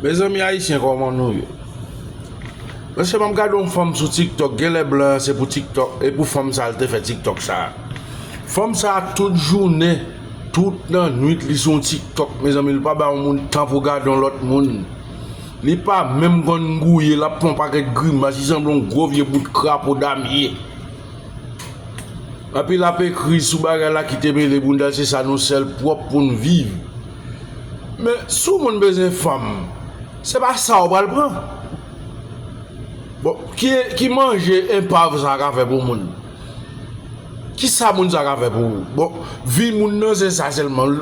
Mezanmi ayisyen koman nou ye Eske map gade yon fanm sou tiktok genlè blan an se pou tiktok e pou fanm sa li te fè tiktok sa Fanm sa tout jounen tout nan nwit li sou yon tiktok mezanmi li pa bay yon moun tan pou gade yon lòt moun li pa menm konn gouye lap fè yon pakèt grimas li sanble yon gwo vye bout krapo damye. Epi lap ekri sou bagay la kite mele boundal se sa nou sèl pwòp poun viv men sou moun bezwen fanm se pa sa ou pral pran bon ki ki manje enpav sa ka fè pou moun kisa moun sa ka fè pou ou bon vi moun nan se sa sèlman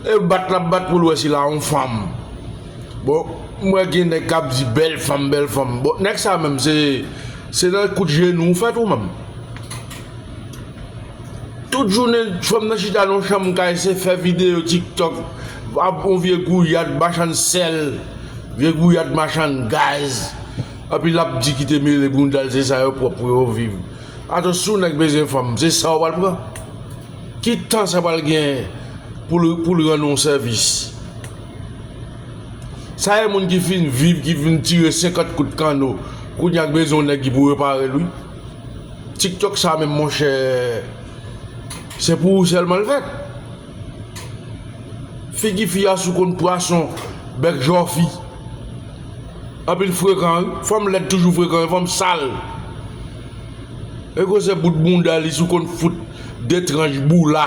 e bat lap bat poul wè si la on fanm bon m wè gen nèg kap di bèl fanm bèl fanm bon nèg sa menm se se nan kout jenou ou fèt ou menm. Tout jounen fanm nan chita nan yon chanm kay se fè videyo tiktok ap yon vye gouyad machann sèl vye gouyad machann gaz epi lap di kite mele boundal se sa yo pwòp pou yo viv atò si yon nèg bezwen fanm se sa ou pral pran ki tan sa pral gen poul rann ou sèvis sa e moun ki fin viv ki fin tire 50 kout kanno kounya k bezwen yon nèg ki pou reparel wi. Tiktok sa menm monchè se pou ou sèlman l fèt Figi fi a sou konn pwason bèk jòfi Anpi l frekan wi fanm lèd toujou frekan yon fanm sal Ekou se bout bounda li sou konn fout 2 tranch boula.